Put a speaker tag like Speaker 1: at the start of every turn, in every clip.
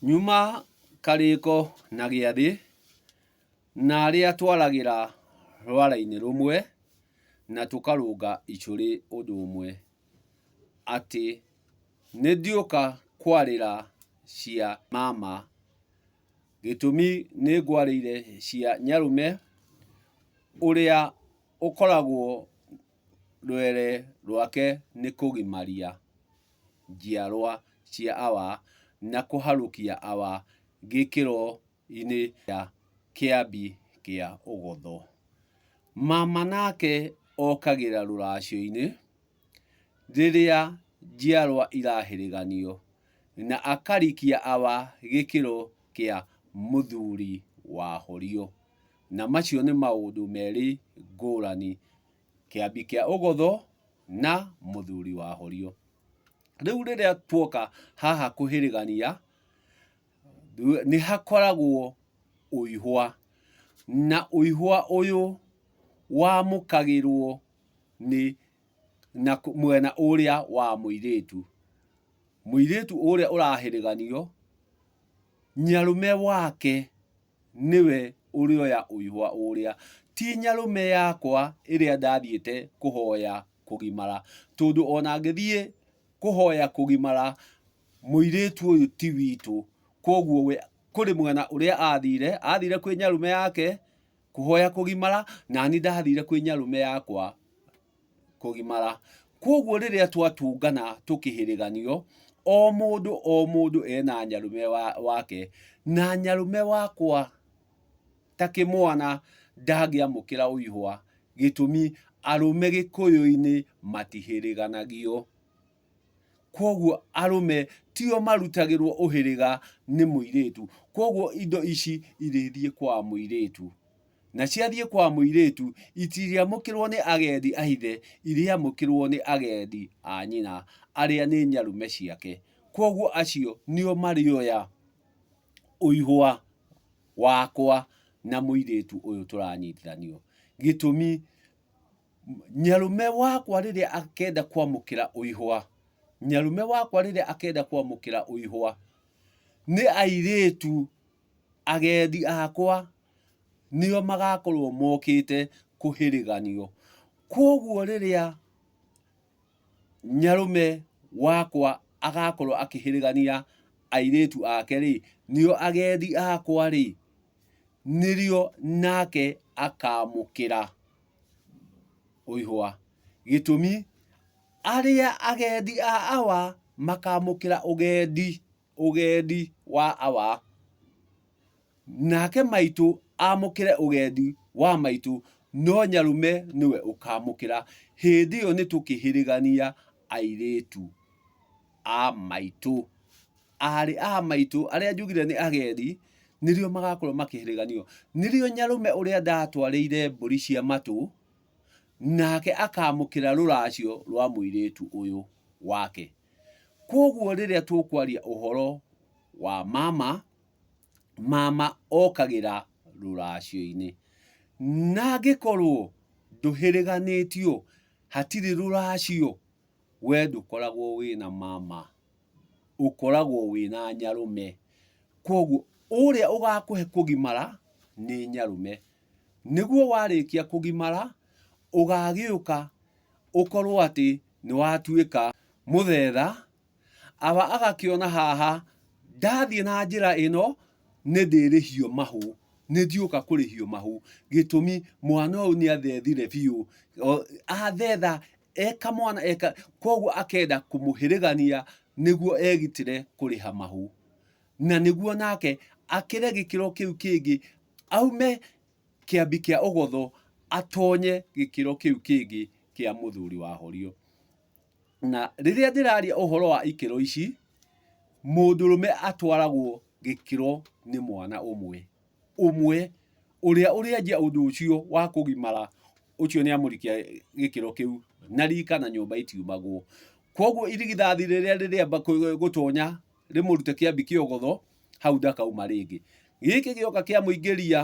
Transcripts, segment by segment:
Speaker 1: Nyuma karĩko na gĩathĩ, na arĩa twaragĩra rwara-inĩ rũmwe, na tũkarũnga icũrĩ ũndũ ũmwe, atĩ nĩ ndiũka kwarĩra cia mama, gĩtũmi nĩ ngwarĩire cia nyarũme, ũrĩa ũkoragwo rwere rwake nĩ kũgimaria. njiarwa cia Awa na kũharũkia Awa gĩkĩro-inĩ kĩa Kĩambi kĩa Ũgotho. Mama nake okagĩra rũracio-inĩ rĩrĩa njiarwa irahĩrĩganio na akarikia Awa gĩkĩro kĩa Mũthuri wahorio. Na macio nĩ maũndũ merĩ ngũrani. Kĩambi kĩa Ũgũthũ na Mũthuri wa Horio. Rĩu rĩrĩa tuoka haha kũhĩrĩgania, nĩ hakoragwo ũihwa, na ũihwa ũyũ wamũkagĩrwo nĩ na mwena ũrĩa wa mũirĩtu. Mũirĩtu ũrĩa ũrahĩrĩganio, nyĩarume wake nĩwe ũrĩoya ũihwa ũũrĩa, ti nyarũme yakwa ĩrĩa ndathiĩte kũhoya kũgimara, tondũ ona ngĩthiĩ kũhoya kũgimara, mũirĩtu ũyũ ti witũ, koguo we kũrĩ mwena ũrĩa athire, athire kwĩ nyarũme yake kũhoya kũgimara, nani ndathire kwĩ nyarũme yakwa. kũgimara. Kwoguo rĩrĩa twatũngana tũkĩhĩrĩganio, o mũndũ o mũndũ ena nyarũme wake, na nyarũme wakwa ta kĩmwana ndangĩamũkĩra ũihwa, gĩtũmi arũme Gĩkũyũ-inĩ matihĩrĩganagio. Kwoguo arũme tio marutagĩrwo ũhĩrĩga nĩ mũirĩtu. Kwoguo indo ici irĩthiĩ kwa mũirĩtu. Na ciathiĩ kwa mũirĩtu, itirĩamũkĩrwo nĩ agendi a ithe, irĩamũkĩrwo nĩ agendi a nyina, arĩa nĩ nyarume ciake. Kwoguo acio nĩo marĩoya ũihũa wakwa na mũirĩtu ũyũ tũranyitithanio. Gĩtũmi... Nyarume wakwa rĩrĩa akenda kwamũkĩra ũihwa, nyarume wakwa rĩrĩa akenda kwamũkĩra ũihwa, nĩ airĩtu agendi akwa nĩo magakorwo mokĩte kũhĩrĩganio. Kwoguo rĩrĩa nyarume wakwa agakorwo akĩhĩrĩgania airĩtu ake rĩ, nĩo agendi akwa rĩ, nĩrĩo nake akamũkĩra. ũihũa. Gĩtũmi, arĩa agendi a awa makamũkĩra ũgendi, ũgendi wa awa, nake maitũ amũkĩre ũgendi wa maitũ, no Nyarume nĩwe ũkamũkĩra. Hĩndĩ ĩyo nĩ tũkĩhĩrĩgania airĩtu a maitũ. aarĩ a maitũ arĩa njugire nĩ agendi nĩrĩo magakorwo makĩhĩrĩganio nĩrĩo nyarume ũrĩa ndatwarĩire mbũri cia matũ nake akamũkĩra rũracio rwa mũirĩtu ũyũ wake kwoguo rĩrĩa tũkwaria ũhoro wa mama mama okagĩra rũracio-inĩ na angĩkorwo ndũhĩrĩganĩtio hatirĩ rũracio we ndũkoragwo wĩna mama. ũkoragwo wĩna nyarũme, koguo ũrĩa ũgakũhe kũgimara nĩ nyarũme. Nĩguo warĩkia kũgimara, ũgagĩũka ũkorwo atĩ nĩ watuĩka mũthemba, agakĩona haha ndathiĩ na njĩra ĩno nĩ ndĩrĩhio mahũ, nĩ ndiũka kũrĩhio mahũ, gĩtũmi mwana ũyũ nĩ athethire biũ, athetha eka mwana eka, koguo akenda kũmũhĩrĩgania nĩguo egitĩre kũrĩha mahũ, na nĩguo nake akĩre gĩkĩro kĩu kĩngĩ, aume kĩambi kĩa ũgotho atonye gĩkĩro kĩu kĩngĩ kĩa mũthuri wahorio. Na rĩrĩa ndĩraria ũhoro wa ikĩro ici, mũndũrũme atwaragwo gĩkĩro nĩ mwana ũmwe ũmwe ũrĩa ũrĩanjia ũndũ ũcio wa kũgimara ũcio nĩ amũrikia gĩkĩro kĩu na rika na nyũmba itiumagwo. Koguo irigithathi rĩrĩa rĩrĩamba gũtonya rĩmũrute kĩambi kĩa ũgotho, hau ndakauma rĩngĩ. Gĩkĩ gĩoka kĩamũingĩria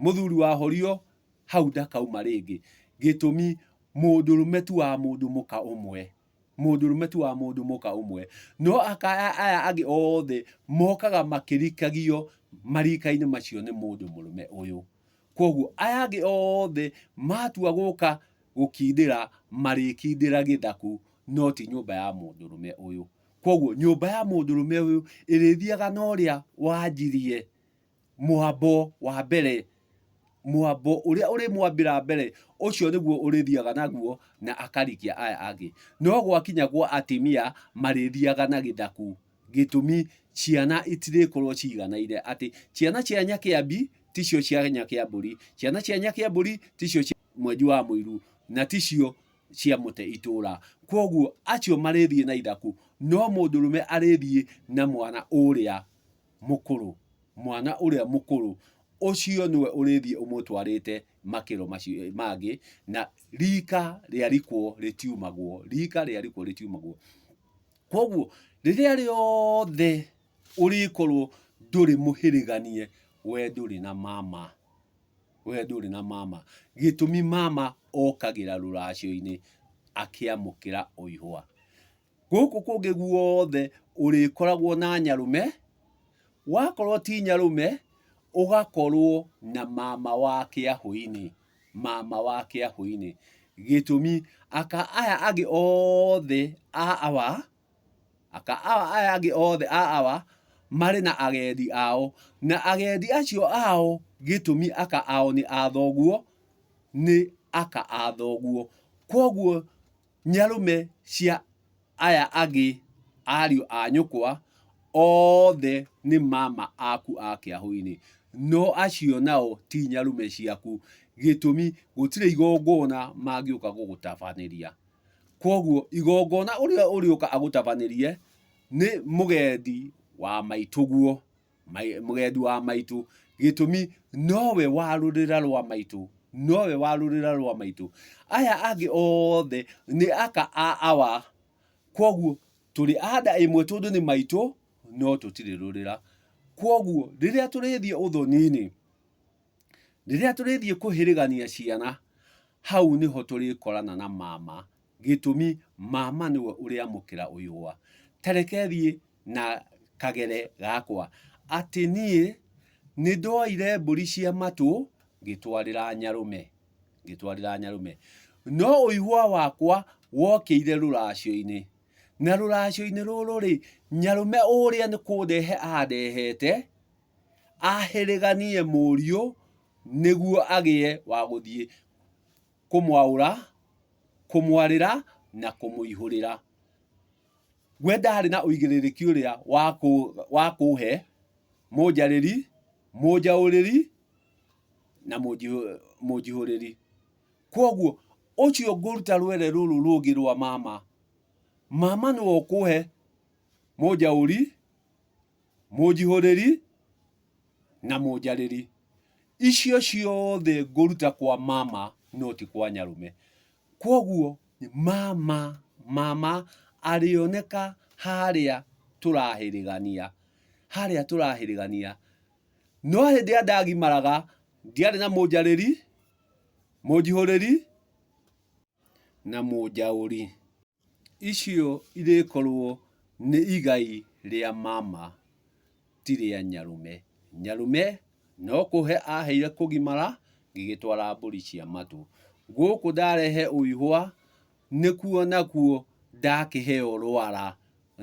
Speaker 1: mũthuri wahorio hau ndakauma rĩngĩ, gĩtũmi mũndũrũme tu wa mũndũ mũka ũmwe, mũndũrũme tu wa mũndũ mũka ũmwe, no aya angĩ othe mokaga makĩrikagio marika-inĩ macio nĩ mũndũ mũrũme ũyũ. Koguo aya angĩ othe matua gũka gũkindĩra marĩkindĩra gĩthaku no ti nyũmba ya mũndũrũme ũyũ. Koguo nyũmba ya mũndũrũme ũyũ ĩrĩthiaga na ũrĩa wanjirie. Mũambo wa mbere, mũambo ũrĩa ũrĩmwambĩra mbere, ũcio nĩguo ũrĩthiaga naguo na akarikia aya angĩ. No gwakinya gwa atimia, marĩthiaga na gĩthaku. Gĩtũmi, ciana itirĩkorwo ciganaine. Atĩ ciana cia Nyakĩambi ticio cia Nyakĩambũri, ciana cia Nyakĩambũri ticio cia Mwenji wa Mũiru, na ticio cia Mũte Itũũra. Kwoguo, acio marĩthiĩ na ithaku, no mũndũrũme arĩthiĩ na mwana ũrĩa Mũkũrũ, mwana ũrĩa mũkũrũ, ũcio nĩwe ũrĩthiĩ ũmũtwarĩte makĩro macio mangĩ, na riika rĩarikwo rĩtiumagwo, riika rĩarikwo rĩtiumagwo. Kwoguo, rĩrĩa rĩothe ũrĩkorwo ndũrĩ mũhĩrĩganie, we ndũrĩ na mama, we ndũrĩ na mama. Gĩtũmi mama okagĩra rũracio-inĩ akĩamũkĩra o ihũa. Gũkũ kũngĩ guothe ũrĩkoragwo na nyarũme, wakorwo ti nyarũme ũgakorwo na mama wa kĩahũ-inĩ, mama wa kĩahũ-inĩ. Gĩtũmi, aka aya angĩ othe a awa, aka awa aya angĩ othe a awa marĩ na agendi ao, na agendi acio ao gĩtũmi aka ao nĩ a thoguo, nĩ aka a thoguo. Kwoguo Nyarũme cia aya angĩ ariũ a nyũkwa othe nĩ mama aku a kĩahũ-inĩ, no acio nao ti nyarũme ciaku, gĩtũmi gũtirĩ igongona mangĩũka gũgũtabanĩria. Kwoguo igongona ũrĩa ũrĩũka agũtabanĩrie nĩ mũgendi wa maitũguo. mũgendi wa maitũ gĩtũmi nowe wa rũrĩra rwa maitũ nowe wa rũrĩra rwa maitũ aya angĩ othe nĩ aka a awa kwoguo tũrĩ anda ĩmwe tondũ nĩ maitũ no tũtirĩ rũrĩra kwoguo rĩrĩa tũrĩthiĩ ũthoni-inĩ rĩrĩa tũrĩthiĩ kũhĩrĩgania ciana hau nĩho tũrĩkorana na mama Gĩtũmi, Mama nĩwe ũrĩamũkĩra ũyũa. Ta reke thiĩ na kagere gakwa. Atĩ niĩ nĩ ndoire mbũri cia matũ ngĩtwarĩra Nyarũme. Ngĩtwarĩra Nyarũme. No ũihũa wakwa wokĩire rũracio-inĩ. Na rũracio-inĩ rũrũ-rĩ, Nyarũme ũrĩa nĩ kũndehe andehete, ahĩrĩganie mũriũ nĩguo agĩe wa gũthiĩ. kũmwaũra, kũmwarĩra, na kũmũihũrĩra. We ndaarĩ na ũigĩrĩrĩki ũrĩa wa kũũhe, mũnjarĩri, mũnjaũrĩri, na mũnjihũrĩri. Kwoguo, ũcio ngũruta rwere rũrũ rũngĩ rwa mama, mama nĩwe ũkũũhe mũnjaũri. mũnjihũrĩri na mũnjarĩri icio ciothe ngũruta kwa mama no ti kwa nyarume kwoguo mama mama arĩoneka harĩa tũrahĩrĩgania harĩa tũrahĩrĩgania no hĩndĩ ĩrĩa ndagimaraga ndiarĩ na mũnjarĩri, mũnjihũrĩri na mũnjaũri. Icio irĩkorwo nĩ igai rĩa mama ti rĩa nyarũme. Nyarũme no kũhe aheire kũgimara ngĩgĩtwara mbũri cia matũ. Gũkũ ndarehe ũihũa nĩkuo nakuo ndakĩheo rwara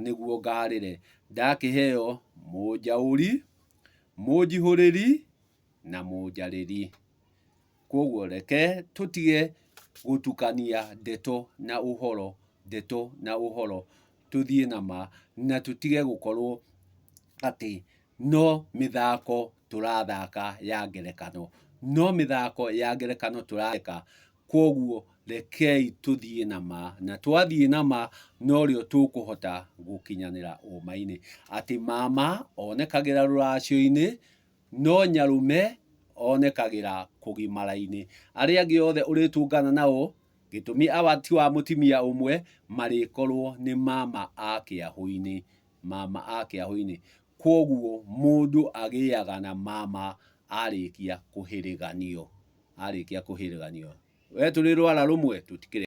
Speaker 1: nĩguo ngarĩre. Ndakĩheo mũnjaũri, mũnjihũrĩri na mũnjarĩri. Kwoguo reke tũtige gũtukania ndeto na ũhoro, ndeto na ũhoro, tũthiĩ na ma, na tũtige gũkorwo atĩ no mĩthako tũrathaka ya ngerekano. No mĩthako ya ngerekano tũrathaka, kwoguo rekei tũthiĩ na ma, na twathiĩ na ma norĩo tũkũhota gũkinyanĩra ũũma-inĩ. Atĩ mama onekagĩra rũracio-inĩ. No nyarũme onekagĩra kũgimara-inĩ. Arĩa angĩ othe ũrĩtũngana nao, gĩtũmi awa ti wa mũtimia ũmwe, marĩkorwo nĩ mama a kĩahũ-inĩ, mama a kĩahũ-inĩ. Kwoguo mũndũ agĩaga na mama arĩkia kũhĩrĩganio, arĩkia kũhĩrĩganio. We tũrĩ rwara rũmwe tũtikĩrĩ.